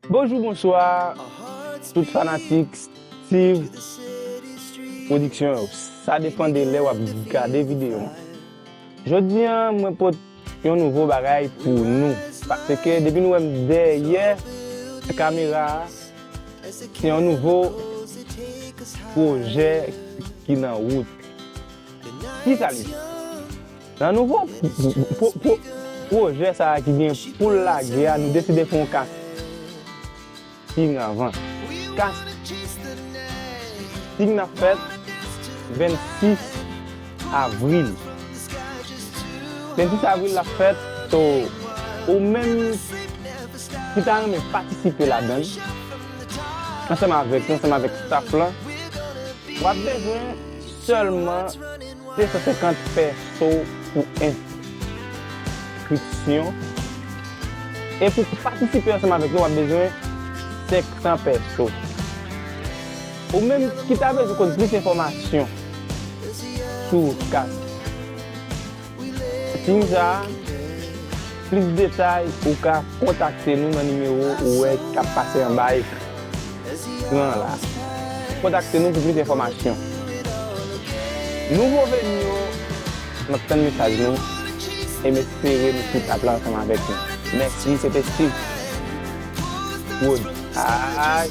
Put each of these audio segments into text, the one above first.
Bonjou bonswa tout fanatik Steeve production yo sa depan de lè wap gade video an jodi an mwen pot yon nouvo bagay pou nou paske depi nou wèm dèyè kamera a se yon nouvo projè ki nan wout kisa li ye. Nan nouvo pwojè sa a ki gen pou l lage a nou deside fè yon kasting anvan. Kasting nan ap fèt 26 avril. 26 avril l ap fèt so ou menm ki ta renmen patisipe ladan l ansanm avèk nou ansanm avèk staff lan w ap bezwen sèlman. 250 fè so pou enskripsyon e pou patisipe ansanm avèk nou wap bezwen 500 pè so. Ou menm ki ta bezwen konn plis enfòmasyon sou kat sim sa a, plis detay ou ka kontakte nou nan nimewo ou wè kap pase anba a ekran. Ekran an la. Kontakte nou pou plis enfòmasyon. Nouvo veni yo, m ap tann mesaj nou e m espere nou tout ap la ansanm avèk nou. Mèsi, se te Steve Wood. Aayy!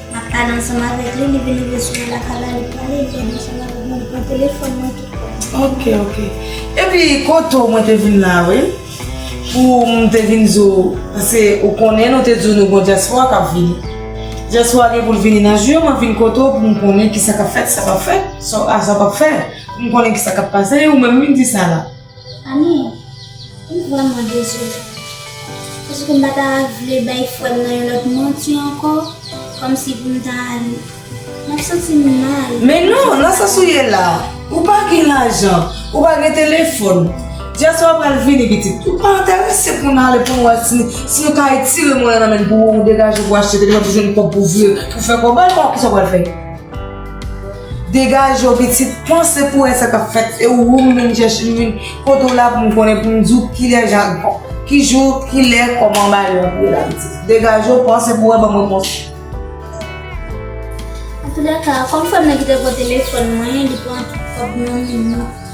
Map pale ansanm avek li li vini resevwa la kay la li prale li rete ansanm avek mwen li pran telefon mwen tout. Ok ok epi koto mwen te vin la wi poum te vin di w pase ou konnen nou te di w nou gon dyaspowa kap vini dyaspowa gen poul vini nan jou yo mwen vin kote w poum konnen kisa kap fèt sa pap fèt sa pap fè poum konnen kisa kap pase ou menm wi di sa la. Ami, m vrèman dezole. Paske m pa ta vle bay frè m nan yon lòt manti ankò, kòmsi pou m ta al. M ap santi m mal. Men non, nan sans ou ye la a, ou pa gen lajan, ou pa gen telefòn. Dyas wap pral vini pitit. Ou pa enterese pou n ale pou nou wè si si yo ka etire monnen nan men n pou ou degaje pou achte telefòn pou jwenn kòb pou vire pou fè kòb. An, kisa w pral fè? Degaje w pitit, panse pou wè sa k ap fèt, se ou m vin chèche, m vin kote w la pou m konnen, pou m di w ki lè jan, ki jou, ki lè, kòman bagay yo ap ye la pitit. Degaje w, panse pou wè, ban m repons lan. Antoudaka, kòm frè m nan ki te pran telefòn mwen, li pran tout kòb nan men li.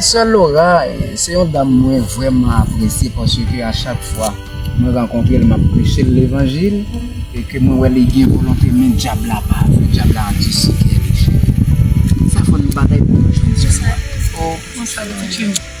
Sè Lora se yon dam mwen vreman apresye paske a chak fwa mwen rankontre l m ap preche l levanjil e ke mwen wè li gen volonte men dyab la pa vle, dyab la ap di si kè li chè. Sa fò n batay pou nou jwenn jis la.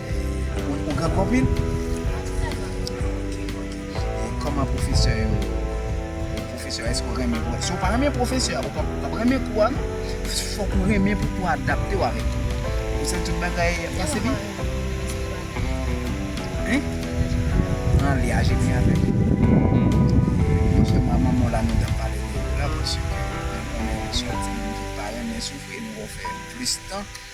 Ou granm anpil? Koman pwofesè yo? Pwofesè eske ou renmen kou a? Si ou pa renmen pwofesè a ou pap renmen kou a non. Fòk ou renmen pou kou a adapte ou avèk kou a. Ou santi tout bagay ap pase byen? Hein? An li aje byen avèk ou. Mwen se mwa manman w la nou tap pale de kou la paske mwen konnen ou sòti moun ki pa renmen soufri nou wè ou fè plis tan.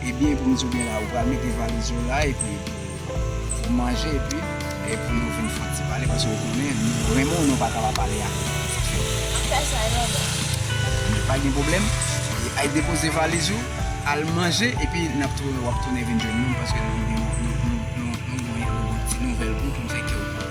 Ebyen bon diw gen la ou pral mete valiz ou la epi pou manje epi pou nou vin fè yon ti pale paske ou konnen nou renmen w nou paka pa pale avèw mwen fè sa yo mwen pa gen pwoblèm al depoze valiz ou al manje epi nap tounen wap tounen vin jwenn nou paske nou gen yon ti nouvèl pou nou fè kèw kontan.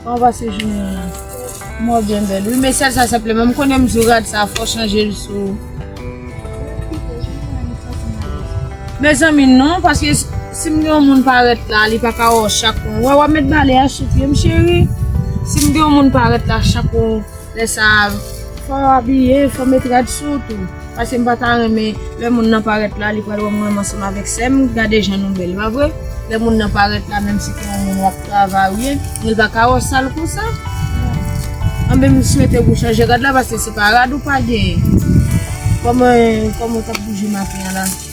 Kòman pase jounen an? Mwen byen bèl wi men sèl sa senpleman m konnen msou rad sa fòw chanje l sou Mezanmi non paske si m gen yon moun parèt la li paka wè w chak w wè wap met bale a sou pye m cheri si m gen yon moun parèt la chak w lè sa fòw abiye fòw met rad sou w tou. Pase m pa ta renmen lè moun nan parèt la li pral wè mwen ansanm avèk sèm gade jan nou bèl pa vre lè moun nan parèt la menm si se yon moun wap travay ou byen men l paka wè w sal konsa anben m swete pou w chanje rad la pase se pa rad ou pa genyen kòman kòman w tap bouje maten an la.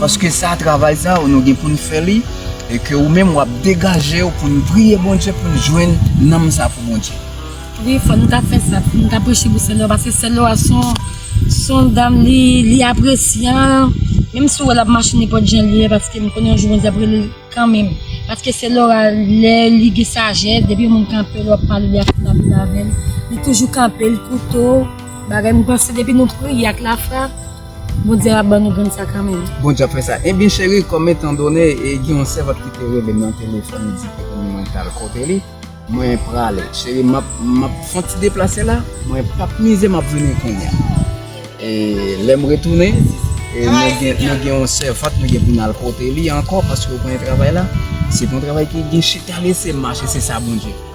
Paske sa travay sa nou gen poun fè li e ke ou menm wap degajew poun priye Bondye poun jwenn nanm sa pou Bondye. Wi fò nou ta fè sa pou nou ta preche pou senyè paske senyè a son son dam li li apresyan menm si ou wè lap mache nenpòt jan li ye paske m konnen yon jou Bondye ap rele l kanmenm paske senyè a lè li gen sajès depi yon moun kanpe lè wap pale li ap pale avèl li toujou kanpe li koute w bagay m panse depi nou priye ak lafwa Bondye ap ban nou grenn sa kanmenm. Bondye ap fè sa. Ebyen cheri kòm etan done e gen yon sèvant ki te relem nan telefòn li di ke pou mwen tal kote li mwen prale cheri map map fon ti deplase la mwen pap mize map vini kounya e lèm retounen e nou gen nou gen yon sèvant nou gen pou nal kote li ankò paske ou konnen travay la se pon travay ki gen chita lese mache se sa Bondye.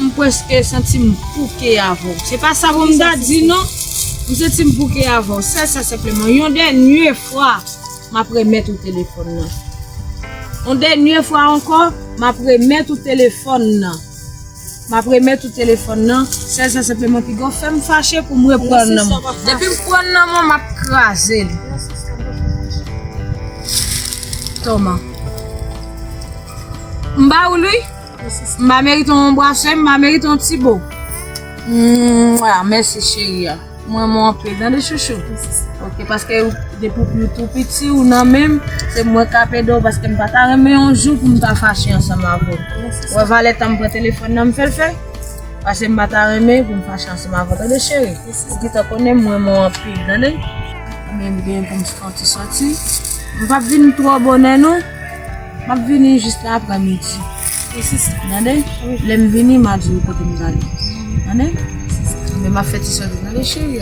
M preske santi m pouke avè w. Se pa sa pou m ta di non. M santi m pouke avè w. Sèl sa senpleman, yon dènye fwa, m ap remèt ou telefòn nan. Yon dènye fwa ankò, m ap remèt ou telefòn nan. M ap remèt ou telefòn nan. Sèl sa senpleman, pigaw fè m fache pou m repran l nan men w. Depi m pran l nan men w, m ap kraze l. Toma. M ba ou l wi. Mba merite yon brase, mba merite yon ti bo. Mwah, mèsi cheri a. M renmen w anpil tande chouchou. Ok, paske depi w tou piti ou nan menm, se mwen k ap ede w paske m pa ta renmen yon jou pou m ta fache ansanm avè w. Ou wè valè tan m pran telefòn nan m fè l fè? Paske m pa ta renmen pou m fache ansanm avè w tande cheri. Ou gentan konnen m renmen w anpil tande. Mwen menm gen pou m fè yon ti sòti. M p ap vin twò bonè non. Map vini jis la aprè midi tande lèm vini ma diw kotem prale tande men map fè ti sòt ou tande cheri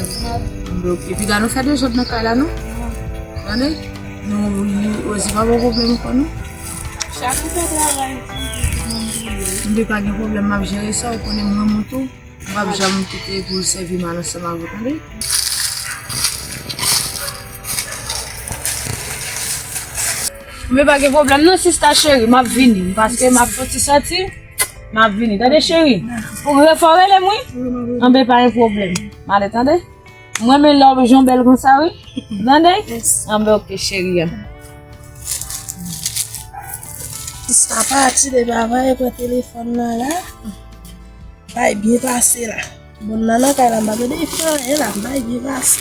epi ga nou fè desòd nan kay la nou tande Rosie pa gen problèm pou nou Chaku fè travay li tou li gen problèm pou li mwen pa gen problèm map jere sa ou konnen mrenmen w tou. M pap janm kite pou l sèvi mal ansanm avè w tande. Anben pa gen pwoblèm nan sista cheri m ap vini paske m ap fon ti soti m ap vini tande cheri. Pou m re fè w rele m wi. Anben pa gen pwoblèm m ale tande. M renmen lè w jan bèl konsa wi. Ou tande? An ben ok cheri an. Sista pati depi avan e pran telefòn nan la. Bay byen pase la. Moun nan nan kay la m pa tande li fè anyen la. Bay byen pase.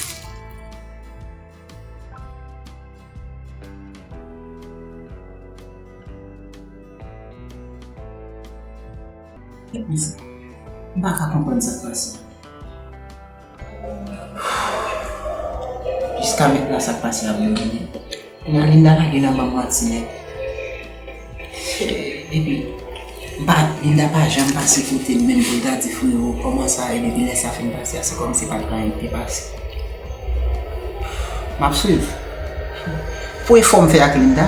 Mwen pa ka konprann sa k pase. Jiska mentnan sak pase la mwen bliye. Nan Linda lage nan banm manti nèt. Epi m pa, Linda pa janm pase kote m menm pou l ta di freo kòman sa ye depi lè sa fin pase a se kòm si pat gen anyen ki te pase. M ap swiv. Pou efò m fè ak Linda.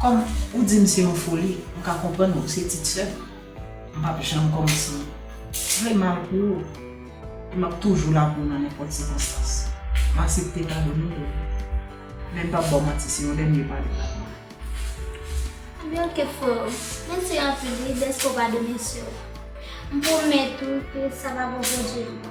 Kòm ou di m se yon foli, m ka konprann ou se tit sè. M pap janm kòmanse vle mal pou ou e m ap toujou la pou ou nan nenpòt sikonstans. M asepte padone w deja. Men m pap ba w manti, se yon dènye padon m ap mande w. Ebyen ok freo, mèsi anpil wi dèske w padone sè w. M pwomèt ou ke sa pa bò Bondye ankò.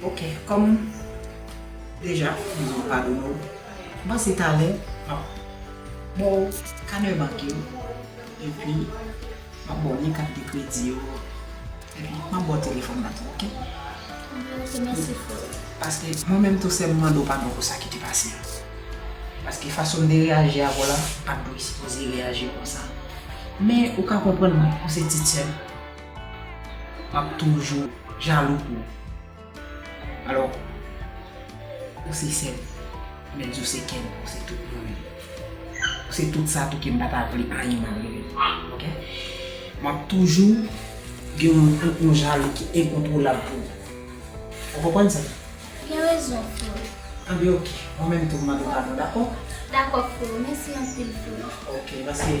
Ok kom deja bondye padone w m panse talè map ba w kanè bank yo epi map ba w lyen kat de kredi yo epi map ba w telefon nan tou ok. Ok mèsi freo. Paske mwen menm tou sèm m mande w padon pou sa ki te pase a paske fason m te reyaji avè w la m pat dwe sipoze reyaji konsa men ou ka konprann mwen ou se tit sèm. Map toujou jalou pou ou. Alò ou se sèm, menm si ou se kèm, ou se tout mwen menm. Ou se tout sa tou kem pa ta vle anyen mal rive nou. Ok. Map toujou gen yon jalou ki enkontwolab pou ou. Ou konprann sa? Ou gen rezon Flo. Anben ok, mwen menm tou m mande w padon dako? Dako Flo, mèsi anpil Flo. Ok, paske.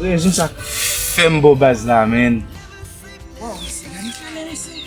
Rezon sa fèm bo baz la menn. Waw se magnifique men mesye.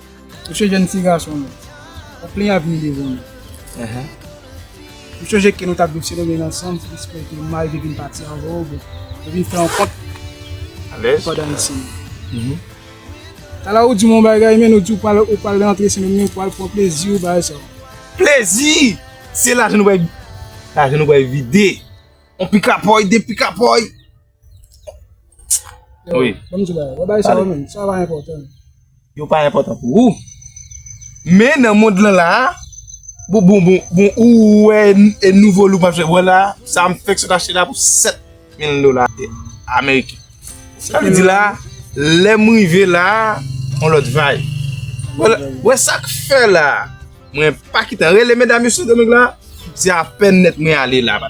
Ou se jèn ti gason nou. Ou plen avni devan nou. Ou sonje ke nou ta dwe selebre l ansanm pou espere ke Mari te vin pati anvan ou byen te vin fè yon kont pou Adan e Sèl yo. Talè ou di m yon bagay men ou di ou pral rantre semenn men ou pral pran plezi ou bay sa yo. Plezi! Se lajan nou pral vide yon pikapòy, de pikapòy. Wi. Banm di bagay. Wè bagay sa yo menm. Sa pa enpòtan. Yo pa enpòtan pou ou. Men nan mond lan la. Bon bon bon bon ou wè e nouvo look map jwenn. Wè la. Sa m fèk sot achte la pou 7 mil dola ameriken. Sa vle di la. Lèm rive la. On lòt vay. Wè sak fè la. Mwen pa kitan. Rele medam yo sou domèk la. Se apèn nèt mwen ale la.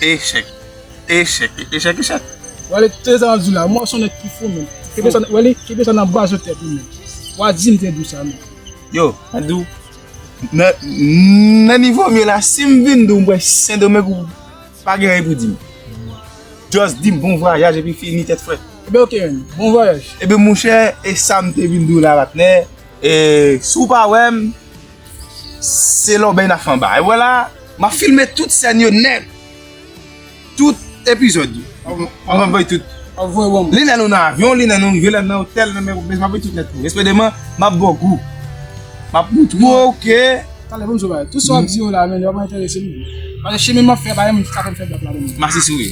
Echèk Echèk Echèk Echèk. Wale kite sa wap di la, mwen son nèg ki fou menm. Kebe sa, wale, kebe sa nan baz ou tèt ou menm. Wa di m te di w sa menm. Yo, mwen di w, nan, nan nivo m ye la, si m vin di w m pral Sendomeng ou pa gen anyen pou di m. Just di m bon vwayaj epi fini tèt frèt. Ebyen ok menm, bon vwayaj. Ebyen monchè, e sa m te vin di w la patnè, e si w pa wè m. Se lòbèy na fè anba. E wè la, ma filme tout sèn yo nèt. Tout epizòd yo. An van bay tout. An van wang. Li lè nou nan avyon, li lè nou rive, lè nou nan otèl, nan mè wopèz, ma bay tout nèt pou. Espè deman, ma bò gou. Ma pou tout wou ok. Sa lè pou msou bay. Tout sa wap di yo la, men yo pa entèrese mou. Pase cheme map fè, pa yon moun ki ka fè mfè bèk la deman. Masi sou.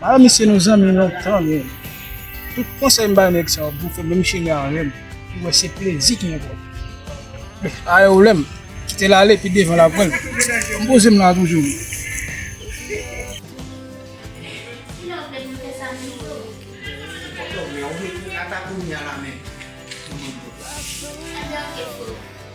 Ala misye nou zanmi lontan nou. Tout konsèy m bay nèg sa yo pou fè menm chemen avèm pou wè se plezi ki enpòtan. Bon, ayè ou lèm kite l ale pi devan l ap wèl. M poze m la toujou wi.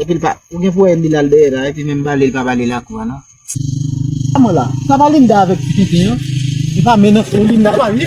Epil pa ou gen pou wè Emil al dèyè la epi menm bale li pa bale lakou a non. Sa mwen la. Sa pa linda avèk ti tenten an. Epa men nan fon linda pa ui.